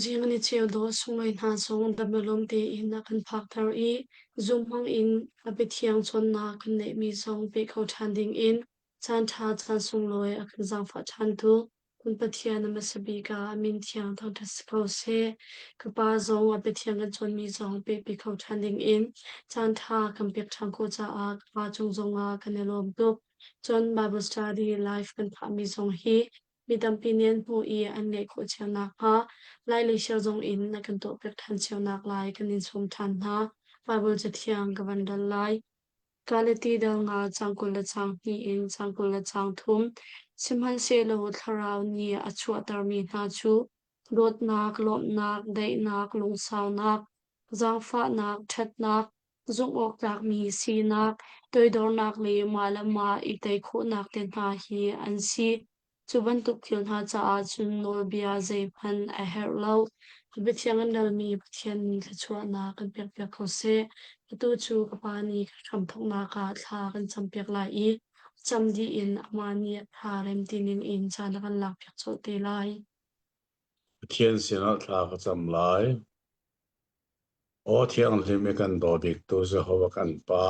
Zing an i cheu dawh sunglawi hna zong dam-a-lawm tein a kan phakter i zunghmang in a biathiang cawnnak kan neihmi zong pe kho ṭhan dingin caanṭha caan sunglawi a kan zaangfah ṭhantu kan Pathian a hmasa bik ah min thiang thangṭhat si ko seh. Ka pa zong a biathiang kan cawnmi zong pehpi kho ṭhan dingin caanṭha kan pek ṭhan khawh caah ka pa cung zongah kan i lawm tuk. Cun Bible study life kan phahmi zong hi mi tampi nih an hmuh i an leh khawh cio nakhnga lai le ser zong in na kan tuahpiak ṭhan cionak lai kan in sawm ṭhan hna. Baibal Cathiang ka van rel lai. Galati dal nga caang kul le caang hnih in caang kul le caang thum sihmanhsehlaw thlarau nih a chuahtermi hna cu dawtnak, lawmhnak, daihnak, lungsaunak, zaangfahnak, ṭhatnak, Zumhawktlakmi sinak, toidornak le mah le mah i tei khawhnak te hna hi an si. Cu bantuk thil hna caah cun nawlbia zeihmanh a herh lo. Biathiang an relmi Pathian nih thluachuahnak kan pekpiak ko seh. Atu cu ka pa nih kan hramthawknak ah thla kan campiak lai i cam dih in amah nih a tha rem ti ning in caan a kan lakpiak colh te lai. Pathian sinah thla ka cam lai. Aw Thianghlim i kan daw biktu Jehovah kan Pa,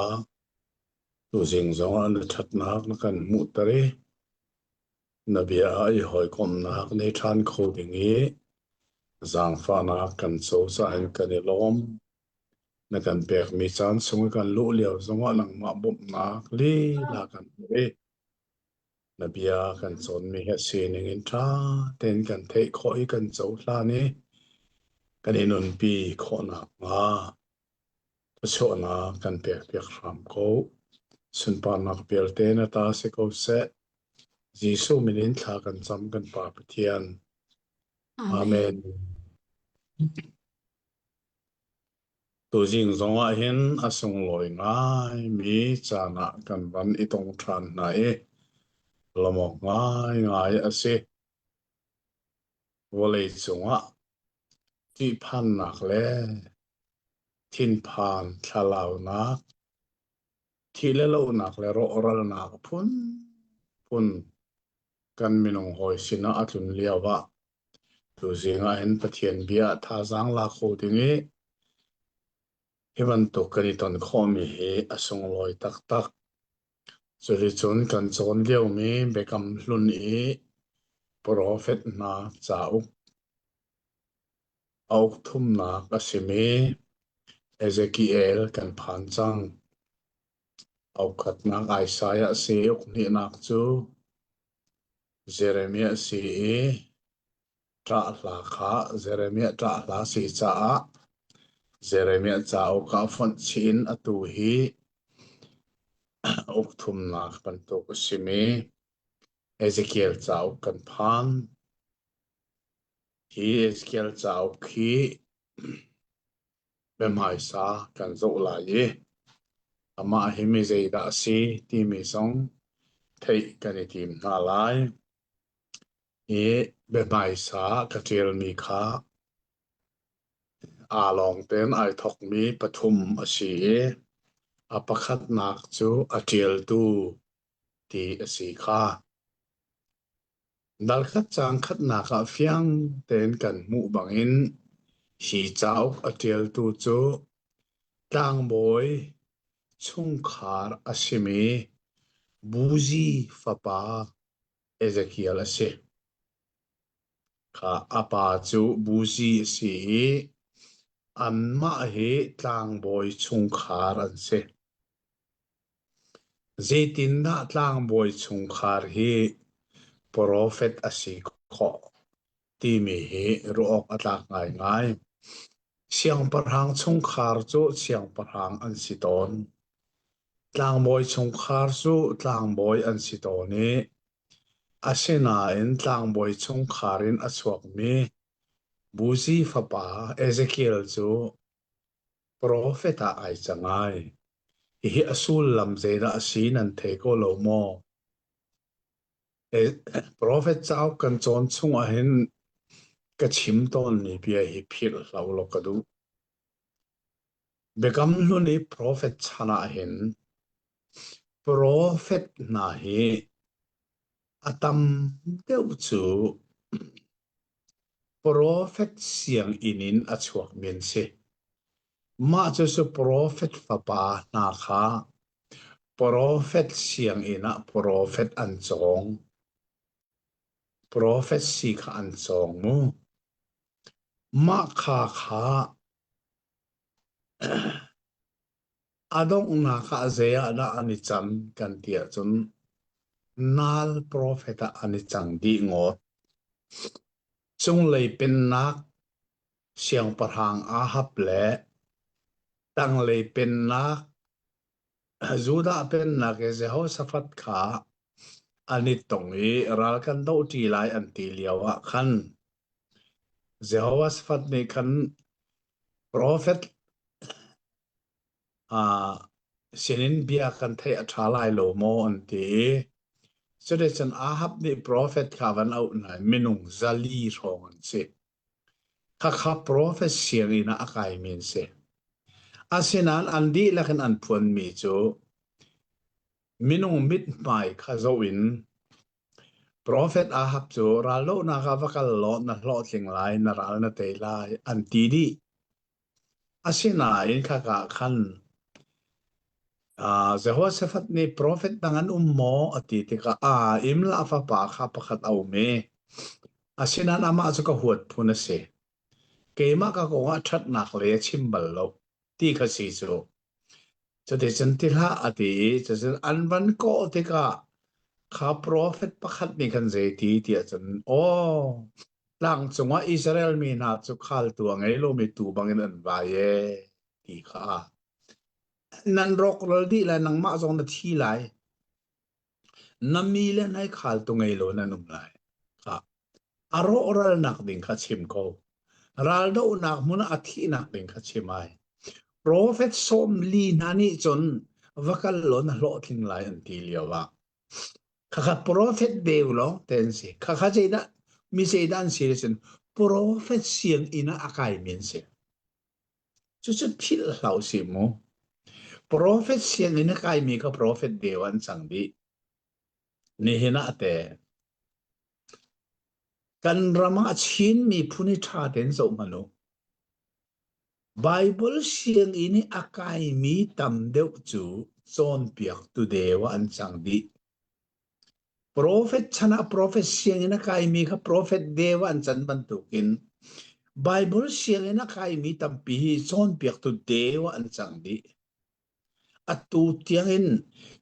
tuzing zongah na ṭhatnak na kan hmuhter i na bia ah i hawikomhnak nei ṭhan kho ding i zaangfahnak kan cozah in kan i lawm. Na kan pekmi caan chung i kan luh lio zongah nangmah bawmhnak lila kan hmu i Na bia kan cawnmi hi a sining in ṭha tein kan theih khawh i kan cohlan i kan i nunpi khawh nakhnga thluachuahnak kan pekpiak hram ko. Sunparnak vialte na ta si ko seh. Jesuh min in thla kan cam kan Pa Pathian. Amen. Amen. Tuzing zongah hin a sunglawi ngaimi caan ah kan van i tong ṭhan hna i lawmawk ngaingai a si. Vawleicung ah ṭihphannak le thinphan thlalaunak, thih le lohnak le rawhralnak phunphun kan minung hawi sinah a tlun lioah Tuzing ahhin Pathian bia ah thazaang la kho ding i hi bantuk kan i ton khawhmi hi a sunglawi taktak. Cuticun kan cawn liomi Biakam Hlun i profet hna cauk, a uk thumnak a simi Ezekiel kan phan cang. A ukhatnak Isaiah a si i uk hnihnak cu Jeremiah si i ṭah hla kha Jeremiah ṭah hla si caah Jeremiah cauk ah fonh chih in atu hi ukthumnak bantuk a simi Ezekiel cauk kan phan. Hi Ezekiel cauk hi Na hmaisa kan zoh lai i amah hi mizeidah a si timi zong theih kan i tim hna lai. Hi biahmaisa ka ṭialmi kha aa lawng tein ai thawkmi pathum a si i a pakhatnak cu a ṭialtu ti a si kha darkhat caan khatnak ah fiang tein kan hmuh bangin hi cauk a ṭialtu cu tlangbawi chungkhar a simi Buzi fapa Ezekiel a si. Kha a pa cu Buzi a si i anmah hi tlangbawi chungkhar an si. Zeitindah tlangbawi chungkhar hi profet a si khawh timi hi ruah awk a tlak ngaingai. Siangpahrang chungkhar cu siangpahrang an si tawn. Tlangbawi chungkhar cu tlangbawi an si tawn i asinain tlangbawi chungkhar in a chuakmi Buzi fapa Ezekiel cu Profet ah ai cang ai. Hihi a sullam zeidah a si nan thei ko lo maw? Profet cauk kan cawn chungah hin ka chim tawnmi bia hi philhhlau lo ka duh. Biakam hlun i profet chan ah hin Profet hna hi a tam deuh cu profet sianginn in a chuakmi an si. Mah cucu profet fapa hna kha profet sianginn ah profet an cawng. Profet si kha an cawng mu. Mah kha kha A donghnak ah zei ah dah an i cang kan ti ahcun nal profet ah an i cang dih ngawt. Cunglei pennak siangpahrang Ahab le tanglei pennak Judah pennak i Jehoshaphat kha an i tong i ral kan dohṭi lai an ti lio ah khan Jehovah sifat nih khan profet ah sinin bia kan theih a ṭha lai lo maw an ti. Cuticun Ahab nih profet kha van auh hna i minung zali hrawng an si. Khakha profet sianginn ah a kaimi an si. Asinain an dihlak in an phuanmi cu minung mithmai kha zoh in Profet Ahab cu ral lonak ah va kal law na hlawhtling lai na ral na tei lai an ti dih asinain khaka khan uh, Jehoshaphat nih profet dang an um maw a ti tikah a im la fapa kha pakhat a um i asinan amah cu ka huat phun a si keimah ka kong ah ṭhatnak le chim bal lo ti kha si cu cuticun ti hlah a ti i cucun an van kawh tikah kha profet pakhat nih khan zei ti tiah cun aw tlang cungah Israel mi hna cu khaltu a ngei lomi tu bangin an vai e ti kha nan rawk lal dih lai nangmah zong na thi lai Na mi le hnaikhaltu ngei lo nan um lai. Ah, a rawhralnak ding kha chim ko. Raldohnak hmun a thihnak ding kha chim ai. Profet sawm li hna nih cun vakal lo na hlawhtling lai an ti lio ah. Khakha profet beu lo ten si. Khakha zeidah mi zeidan si risin profet siang ina akai min si. Cucu philh hlah u sih mu. Profet sian in a kaimi kha profet deu an cang dih. Nihin ah te kan ram ah Chin miphun hi ṭha tein zoh hmanh u. Baibal sianginn i a kaimi tam deuh cu cawnpiaktu deu ah an cang dih. Profet chan ah profet sianginn a kaimi kha profet deu an can bantukin Baibal sianginn a kaimi tampi hi cawnpiaktu deu ah an cang dih. Atu tiangin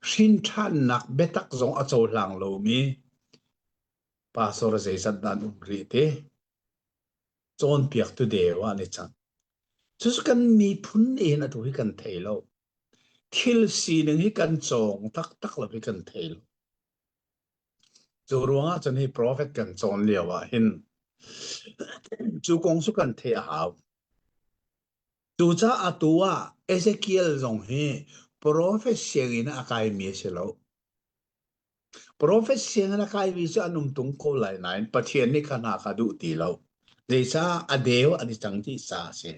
hrinṭhannak biatak zong a cohlang lomi pastor zeizat dah an um rih ti? cawnpiaktu deu ah ni cang. Cucu kan miphun in atu hi kan thei lo. Thil sining hi kan cawng taktak lo hi kan thei lo. Cu ruang ah cun hi profet kan cawn lio ah hin cu kong su kan thei a hau. Cuca atu ah Ezekiel zong hi profet siang in a kai mi si lo. Profet sianginn a kaivi cu an um tung ko lai nain Pathian nih kha hna kha duh ti lo. Zeicah a deu an i cang ti sa a si.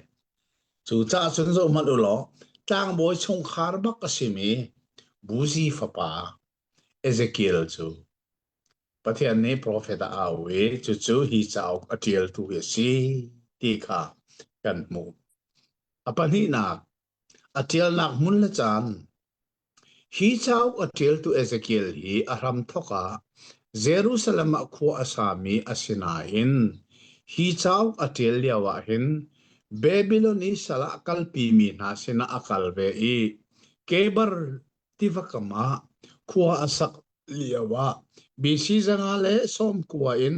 Cu caah cun zohhmanh u law tlangbawi chungkhar bak a simi Buzi fapa Ezekiel cu Pathian nih profet a au i cucu hi cauk a ṭialtu hi a si ti kha kan hmuh. A pahnihnak A ṭialnak hmun le caan Hi cauk a ṭialtu Ezekiel hi a hramthawk ah Jerusalem ah khua a sami a si nain hi cauk a ṭial lioah hin Babilon i sal ah kalpimi hna sinah a kal ve i Kebar tiva kam ah khua a sak lioah BC zanga le sawm kua in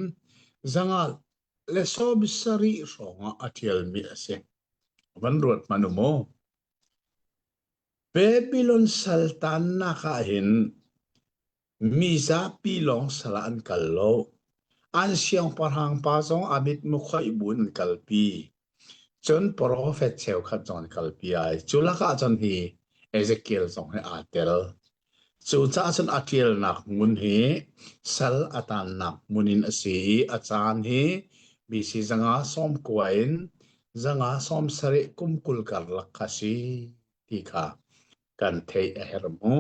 zanga le sawm sarih hrawngah a ṭialmi a si. van ruat hmanh u maw. Babylon saltannak ah hin mi zapi lawng sal an kal lo. An siangpahrang pa zong a mit mukhoih buin an kalpi. Cun profet cheukhat zong an kalpi ai. Cu lakah cun hi Ezekiel zong he aa tel. Cucaah cun a ṭialnak hmun hi sal a taannak hmun in a si i a caan hi mi sizanga sawm kua in zanga sawm sarih kum kul karlak a si ti kha kan theih a herh mu.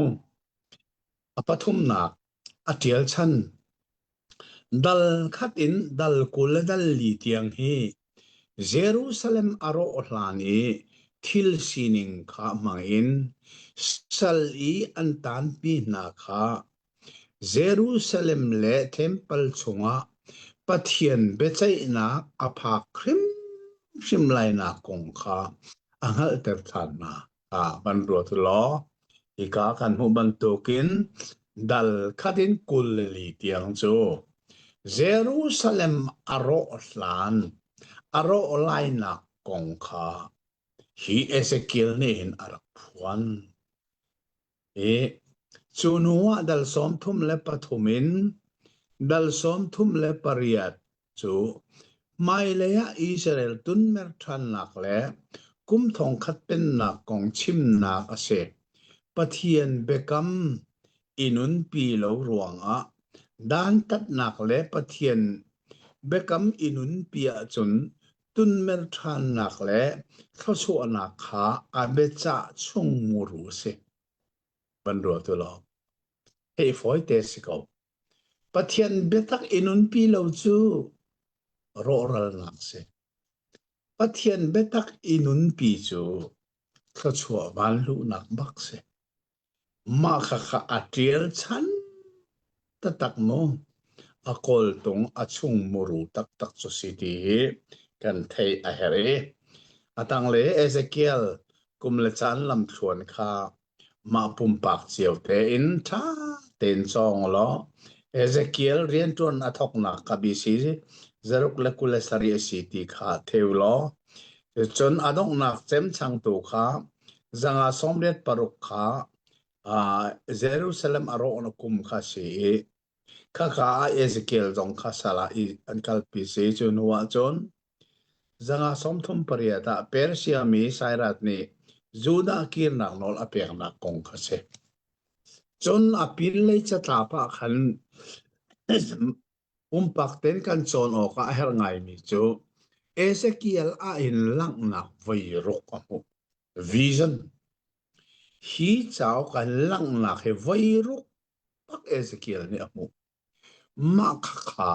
A pathumnak a ṭial chan Dal khat in dal kul dal li tiang hi Jerusalem a rawh hlan i thil sining kha hmangin sal i an tanpi hna kha Jerusalem le Temple chungah Pathian biaceihnak a phak hrimhrim lainak kong kha a hngalhter ṭhan hna. ah hman ruat law hika kan hmuh bantukin dal khatin kul li tiang cu Jerusalem a rawh hlan a rawh lainak kong kha hi Ezekiel nih hin a rak phuan. i cu hnu ah dal sawmthum le pathum in dal sawmthum le pariat cu hmailei ah Israel tunmer ṭhannak le kum thongkhat pennak kong chimnak a si. Pathian biakam i nunpi lo ruangah dantatnak le Pathian biakam i nunpi ahcun tunmen ṭhannak le thluachuahnak kha aa biacah chung muru a si. Van rual tu law, hei fawite si ko. Pathian biatak i nunpi lo cu rawhralnak si. Pathian biatak i nunpi cu thluachuah vanluhnak bak si. Mah khakha a ṭial chan taktak maw? A kawltung a chung muru taktak cu si ti hi kan theih a herh i a tanglei Ezekiel kum le caan lamthluan kha mah pumpak cio tein ṭha tein cawng u law Ezekiel rianṭuan a thawknak kha bi si zaruk le kul le sarih a si ti kha thei u law cucun a donghnak cemchangtu kha zanga sawmriat paruk kha Jerusalem a rawh na kum kha si i khakha ah Ezekiel zong kha sala i an kalpi si cu hnu ah cun zanga sawmthum pariat ah Persia mi Sairat nih Judah kirnak nawl a peknak kong kha si. Cun a pin lei catlap ah khan Pumpak tein kan cawn awkah a herh ngaimi cu Ezekiel ah hin langhnak voi ruk a hmuh. Vision. Hi cauk ah langhnak hi voi ruk tak Ezekiel nih a hmuh. Mah khakha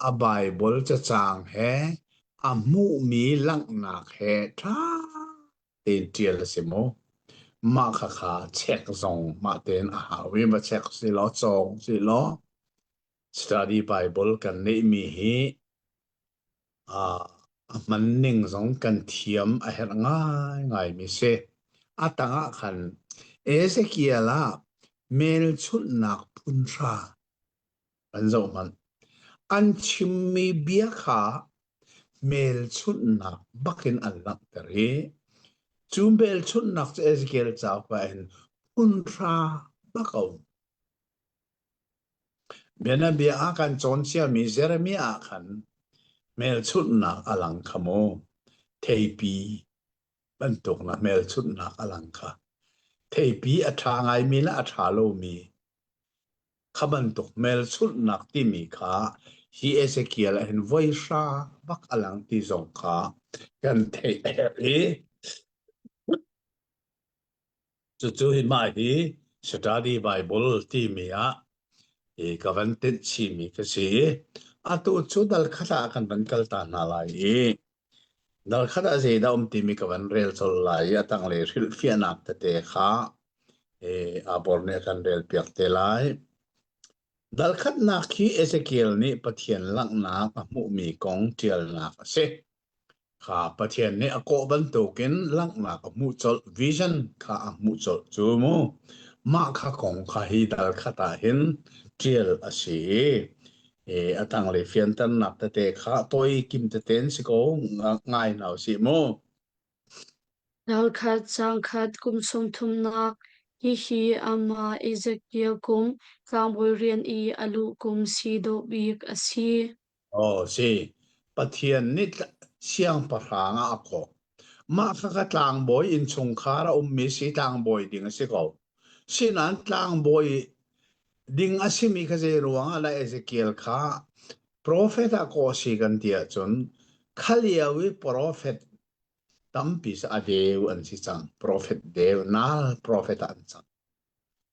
a Baibal cacang he a hmuhmi langhnak he ṭha te ṭial a si maw? Mah khakha check zong mah tein a hau i va check si law cawng si law study Bible kan neihmi hi uh, a hman ning zong kan thiam a herh ngaingai mi si. A tangah khan Ezekiel ah melchunnak phunhra an zohmanh. An chimmi bia kha hmelchunhnak bakin an langhter i cu hmelchunhnak cu Ezekiel cauk ah in phunhra bak a um. Bianabia ah kan cawnchiami Jeremiah ah khan hmelchunhnak a lang kha maw theipi bantuk na hmelchunhnak a lang kha theipi a ṭha ngaimi le a ṭha lomi Kha bantuk hmelchunhnak timi kha hi Ezekiel a hin voi hra bak a lang ti zong kha kan theih a herh i cucu hi mah hi study Bible timi ah i ka van tinh chimi ka si. Atu cu dal khata kan van kal ta hna lai i Darkhat ah zeidah um timi ka van rel colh lai i a tanglei hrilhfiahnak tete kha eh, aa bor nih a kan relpiak te lai. Darkhatnak khi Ezekiel nih Pathian langhnak a hmuhmi kong ṭialnak a si. Kha Pathian nih a kawh bantukin langhnak a hmuh colh, vision kha a hmuh colh cu mu. Mah kha kong kha hi darkhat ah hin ṭial a si. E, a tanglei fianternak tete kha toi kim teten si ko nga- ngai hna u si mu. Ralkhat sangkhat kum sawmthumnak hihi amah Ezekiel kum tlangbawi rian i a luh kum si dawh bik a si. O si, Pathian nih tla- siangpahrang ah a kawh. Mah kha ka tlangbawi innchungkhar a ummi si tlangbawi ding a si ko. Sinain tlangbawi ding a simi kha zei ruangah le Ezekiel kha profet ah kawh si kan ti ahcun khalio i profet tampi a deu an si cang. Profet deunak profet ah an cang.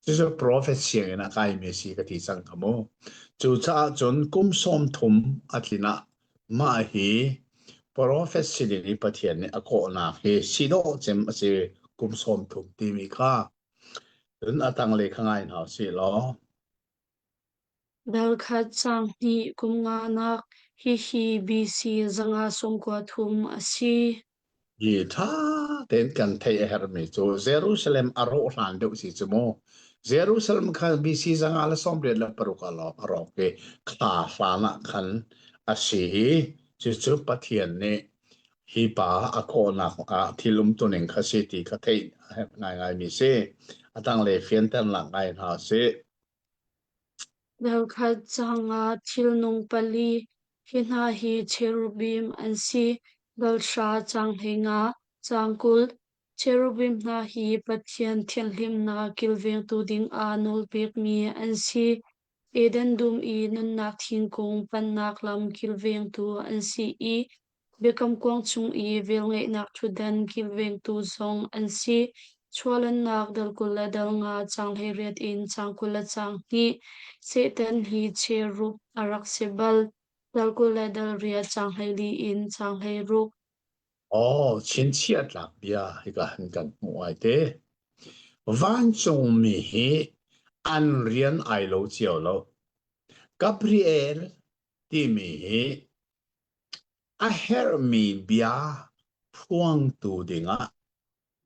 Cucu profet sianginn ah kaimi a si ka ti cang ka mu. Cucaah cun kum sawm thum a tlin ah mah hi profet siding i Pathian nih a kawhnak hi si dawh cem a si kum sawm thum timi kha cun a tanglei kha ngai hna u sih law Darkhat cang hnih kum nganak hihi BC zanga sung kua thum a si. Hi ṭha tein kan theih a herhmi cu Jerusalem a rawh hlan deuh si cu mu. Jerusalem khan BC zanga le sawmriat le paruk a lawng a rawk i thla hlan ah khan a si i cucu Pathian nih hi pa a kawhnak ah thil umtuning kha si ti kha theih a herh ngaingaimi si. A tanglei fianternak ngai hna sih. Darkhat cang ah thilnung pali hi hna hi cherubim an si. Balhra caanghleng ah caang kul. Cherubim hna hi Pathian thianhlimnak kilvengtu dingah nawlpekmi an si. Eden dum i nunnak thingkung pannak lam kilvengtu an si i Biakam Kuang chung i velngeihnak ṭhutdan kim vengtu zong an si. Chuahlannak dal kul le dal nga caang hleiriat in caang kul le caang hnih. Satan hi cherup a rak si bal. Dal kul le dal riat caang hleili in caang hleiruk. Aw, chinchiah tlak bia hi ka han kan hmu ai te. Vancungmi hi an rian ai lo cio lo. Gabriel timi hi A herhmi bia phuangtu dingah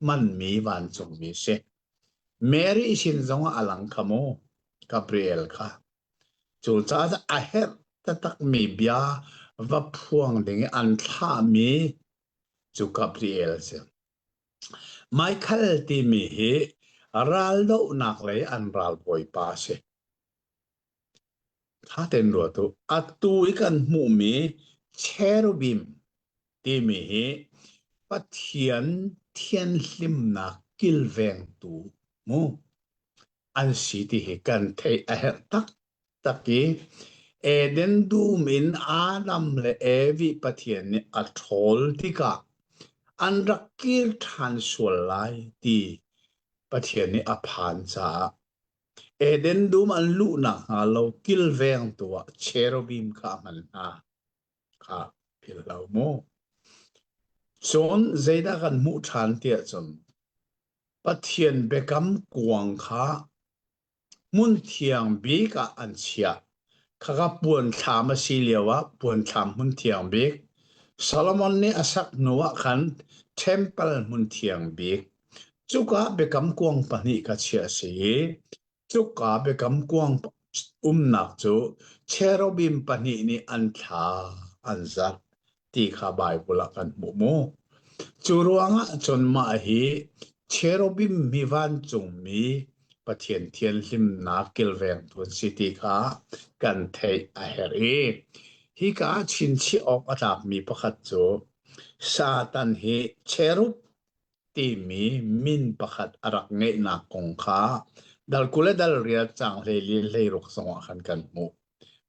hmanmi vancungmi si. Mary sin zongah a lang kha maw Gabriel kha. Cucaah a herh taktakmi bia va phuang dingah an thlahmi cu Gabriel si. Michael timi hi raldohnak lei an ralbawipa si. Ṭha tein ruat u. Atu i kan hmuhmi cherubim timi hi Pathian thianhlimnak kilvengtu mu an si ti hi kan theih a herh taktak i Eden dum in Adam le Evi Pathian nih a ṭhawl tikah an rak kir ṭhan sual lai ti Pathian nih a phan caah Eden dum an luh nakhnga lo kilvengtu ah cherubim kha a hman hna kha philh hlah u mu. Cun zeidah kan hmuh ṭhan tiah cun Pathian biakam kuang kha hmunthiang bik ah an chiah Khaka puanthlam a si lio ah puanthlam hmun thiang bik. Solomon nih a sak hnu ah khan temple hmun thiang bik. Cuka biakam kuang pahnih ka chiah a si i cuka biakam kuang umnak cu cherubim pahnih nih an thla an zat. ti kha Baibal ah kan hmuh mu. Cu ruangah cun mah hi cherubim hi vancungmi Pathian thianhlimnak kilvengtu si ti kha kan theih a herh i hi ka chinchih awk a tlakmi pakhat cu Satan hi cherub timi min pakhat a rak ngeihnak kong kha dal kule dal rial cang hlei lin hlei ruk zongah khan kan hmuh.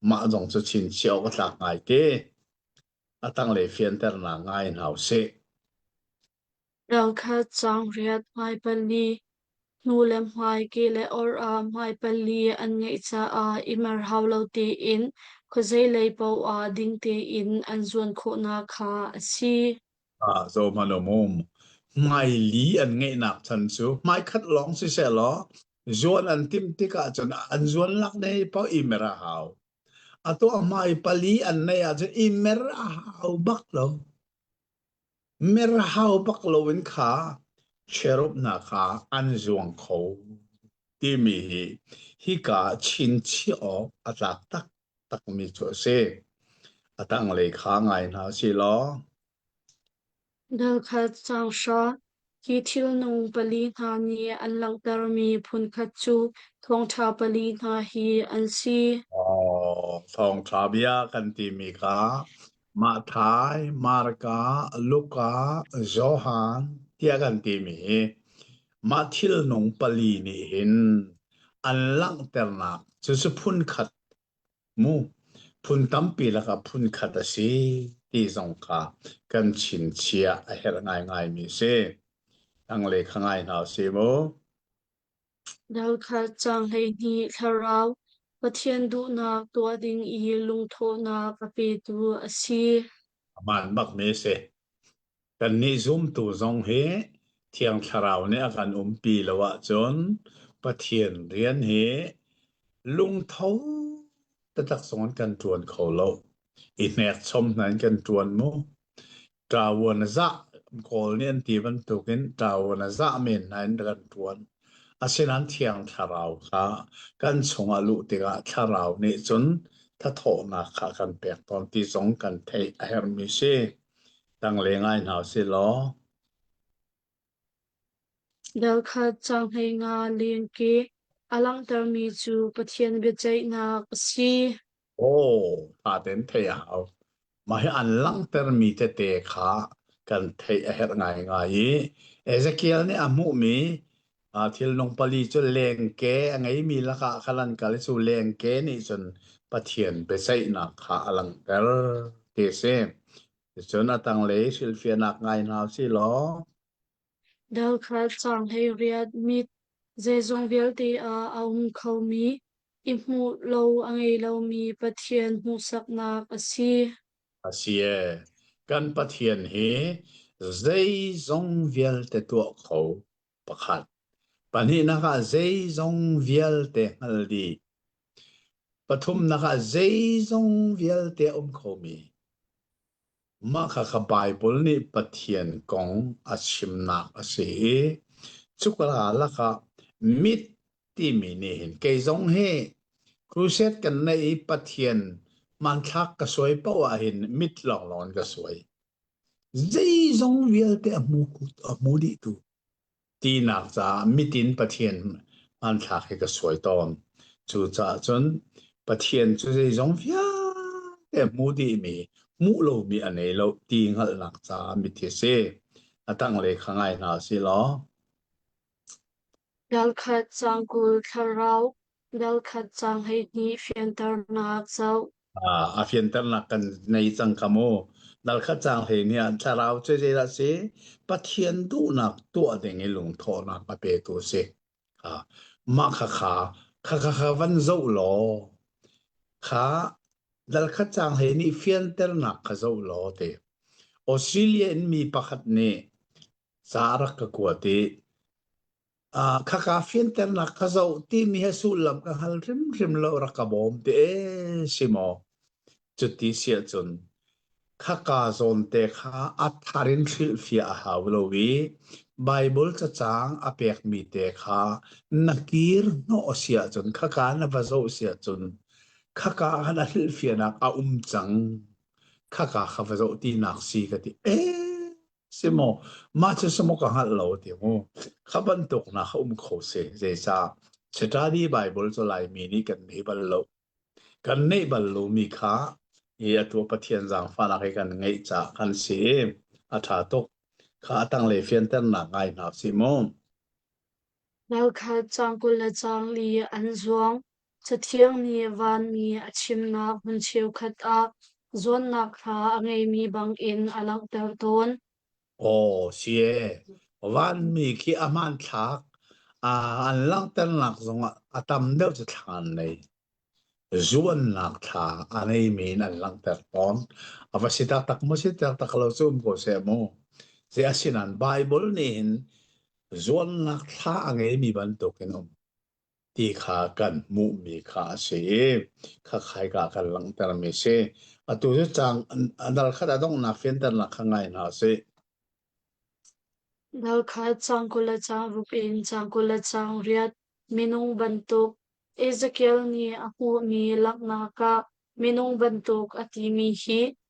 Mah zong cu chinchih awk a tlak ngai ti. A tanglei fianternak ngai hna u sih. Ralkhat caang riat hmai pali, hnu le hmai ki le or ah hmai pali an ngeih caah i mer hau lo tein khuazeilei paoh ah ding tein an zuan khawhnak kha a si. Ah, zohhmanh u mum. Hmaili an ngeihnak chan cu hmaikhat lawng sisehlaw zuan an timh tik ahcun an zuanlak dei paoh i mer a hau. Ato amai pali an nei ahcun i mer a hau bak lo. Mer a hau bak lo in kha cherupnak ah an zuang kho timi hi hika chinchiah awk a tlak taktakmi cu a si. A tanglei kha ngai hna si law Nalkhat sanghra hi thilnung pali hna nih an langhtermi phunkhat cu thawngṭha pali hna hi an si. Oh, thawngṭha bia kan timi kha Mathai, Marka, Luka, Johan tiah kan timi hi mah thilnung pali nih hin an langhternak cucu phunkhat mu phun tampi lakah phun khat a si ti zong kha kan chinchiah a herh ngaingaimi si. Tanglei kha ngai hna si mu. Dalkhat cang hleihnih thlarau Pathian duhnak tuah ding i lungthawhnak a petu a si. Amah an bakmi a si. Kannih zumtu zong hi Thiang Thlarau nih a kan umpi lo ahcun Pathian rian hi lungtho taktak zong in kan ṭuan kho lo. I hnekchom hna in kan ṭuan mu. Ṭavuan a zah, Kawl nih an ti bantukin ṭavuan a zah men hna in kan ṭuan. Asinain Thiang Thlarau kha kan chungah luh tikah Thlarau nih cun thathawhnak kha a kan pek tawn ti zong kan theih a herhmi si. Tanglei ngai hna si law, Darkhat caanghei nga lengki a langhtermi cu Pathian biaceihnak a si. Aw, paten theih a hau. Mah hi an langhtermi tete kha kan theih a herh ngaingai i Ezekiel nih a hmuhmi ah thilnung pali cu lengke a ngeimi lakah khan an kal i cu lengke nih cun Pathian biaceihnak kha a langhter ti a si. Ticun a tanglei hrilhfiahnak ngai hna u silaw, Darkhat cang hlei riat mit zeizong vialte ah a um khomi i hmuh lo a ngei lomi Pathian hmuhsaknak a si. A si e, kan Pathian hi zeizong vialte tuah kho pakhat, pahnihnak ah zeizong vialte hngal dih, pathumnak ah zeizong vialte a um khomi, Mah kha ka Baibal nih Pathian kong a chimnak a si i cuka lakah myth timi nih hin kei zong hi crusade kan neih i Pathian hmanthlak ka suai paoh ahhin myth lawnglawng in ka suai. Zei zong vialte a hmu, a hmu dihtu tinak caah mitin Pathian hmanthlak hi ka suai tawn. Cucaah cun Pathian cu zeizong vialte hmu dihmi, hmuh lomi a nei lo ti hngalhnak caah mithi si. A tanglei kha ngai hna si law. Ralkhat cangkul thlarau Rel khat cang hleihnih fianternak zoh. Ah, a fianternak kan nei cang ka mu. Nalkhat cang hleihnih ah thlarau cu zeidah si? Pathian duhnak tuah ding i lungthawhnak a petu si. Ha. Mah kha kha kha kha kha van zoh law kha nalkhat cang hleihnih fianternak kha zoh law ti. Australia in mi pakhat nih sa a rak ka kuat i khaka fianternak ka zoh timi hi sullam ka hngal hrimhrim lo rak ka bawm te si maw cuti si ahcun khaka zawnte kha a thar in hrilhfiah a hau lo i Bible cacang a pekmi te kha na kir hnawh si ahcun khaka na va zoh si ahcun khaka kha na hrilhfiahnak a um cang khaka kha va zoh tinak si ka ti ee Si maw? Mah cu si maw ka hngalh lo ti mu. Kha bantuk na um kho si. Zeicah? Sitadi Baibal cu Laimi nih kan nei bal lo. Kan neih bal lomi kha hi atu Pathian zaangfahnak hi kan ngeih caah kan si. A ṭha tuk. Kha a tanglei fianternak ngai hna sih mu. Nau kha cang kul le cang li an zuang. Cathiang nih vanmi a chimnak hmun cheukhat ah zuannak hla a ngeimi bangin a langhter tawn. Aw siye, vanmi khi a hmanthlak an langhternak zongah a tam deuh cu thla an ngei. Zuannak thla a ngeimi in an langhter tawn. A va si taktak maw si taktak lo cu um ko seh mu. Ze asinan Bible nih hin zuannak thla a ngeimi bantuk in um. ti kha kan hmuhmi kha a si i khakhaika kan langhtermi a si. Atu cu cang a dal khat a donghnak fianternak kha ngai hna sih. Nalkhat cang kul le cang rup in cang kul le cang riat minung bantuk Ezekiel nih a hmuhmi langhnak ah minung bantuk a timi hi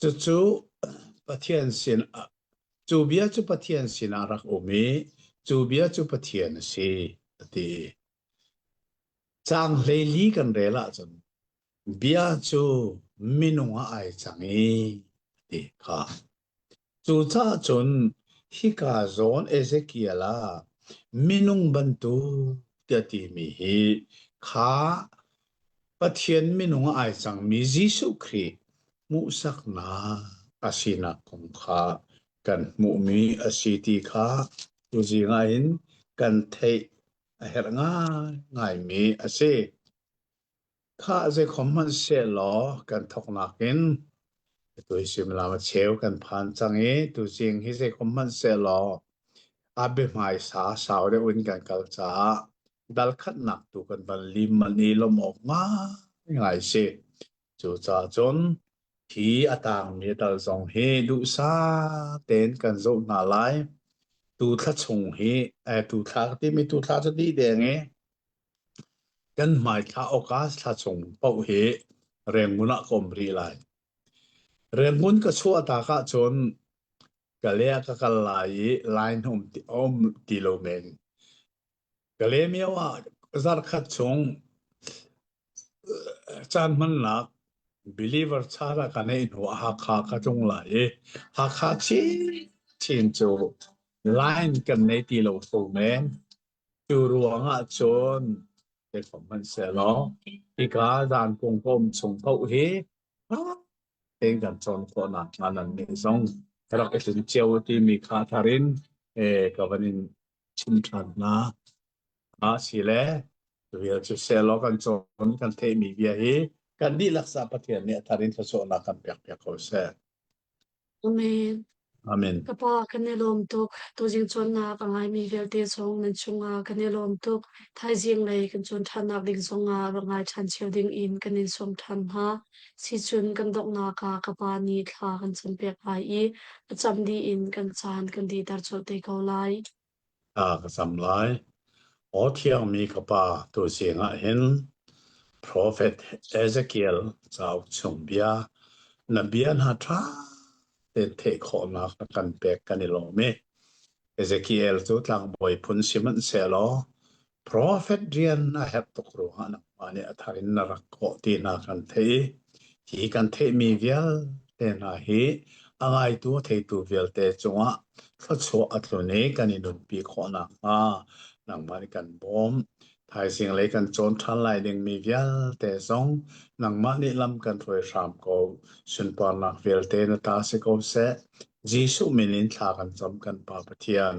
Cucu Pathian sinah cu bia cu Pathian sinah rak um i cu bia cu Pathian a si a ti. Cang hlei kan rel ahcun bia cu minung ah ai cang i a ti kha. Cucaah cun hika zawn Ezekiel ah minung bantuk tiah timi hi kha Pathian minung a ai cangmi Jesuh Khrih hmuhsaknak a sinak kong kha kan hmuhmi a si ti kha tuzing ah hin kan theih a herh ngaingaimi a si. Khah zeikhom hmanh sehlaw kan thoknak in tuisim lam a cheu kan phan cang i tuzing hi zeikhom hmanh sehlaw a biahmaisa sau deuh in kan kal caah dalkhatnak tu kan van lim ani lom awk ngai si cucaah cun hi a tangmi dal zong hi duhsa ten kan zoh hna lai tu thla chung hi tu thla timi tu thla cu di deng i kan hmai thla oka thla chung pauh hi rengun ah kom ri lai rengun ka chua tak ah cun ka le ka kal lai i line hum ti om ti lo men Kalemyo ah zarkhat chung caan hmannak believer caan ka neih hnu ah Hakha ka tlung lai i Hakha chinchin cu line kan nei ti lo fu men. Cu ruang ahcun ei ko hmanhsehlaw hika zan pumhpum chung paoh hi tein kan cawn khawhnak hnga nannih zong rak i tlun cio timi kha thar in ka van in chim ṭhan hna. A si le rel cu selaw kan cawn kan theihmi bia hi kan dihlak sa Pathian nih a thar in thluachuahnak kan pek piak ko seh. Amen. Amen. Ka pa kan i lawm tuk. Tuzing cawnnak a ngaimi vialte zong nan chungah kan i lawm tuk. Thaizing lei kan cawn ṭhannak ding zongah va ngai ṭhan cio ding in kan in sawm ṭhan hna. Sicun kan donghnak ah ka pa nih thla kan campiak lai i a cam dih in kan caan kan dihter colh te ko lai. Thla ka cam lai. Aw thiangmi ka pa, tu siangah hin Profet Ezekiel cauk chung bia na bia hna ṭha tein theih khawhnak na kan pek kan i lawm i Ezekiel cu tlangbawi phun sihmanhsehlaw Profet rian a herh tuk ruangah nangmah nih a thar in na rak kawh ti hna kan theih. Hi kan theihmi vialte hna hi a ngaitu a theitu vialte cungah thluachuah a tlun i kan i nunpi khawh nakhnga nangmah nih kan bawm. Thaizing lei kan cawn ṭhan lai dingmi vialte zong nangmah nih lam kan hruai hram ko. Sunparnak vialte na ta si ko seh. Jesuh min in thla kan cam kan Pa Pathian.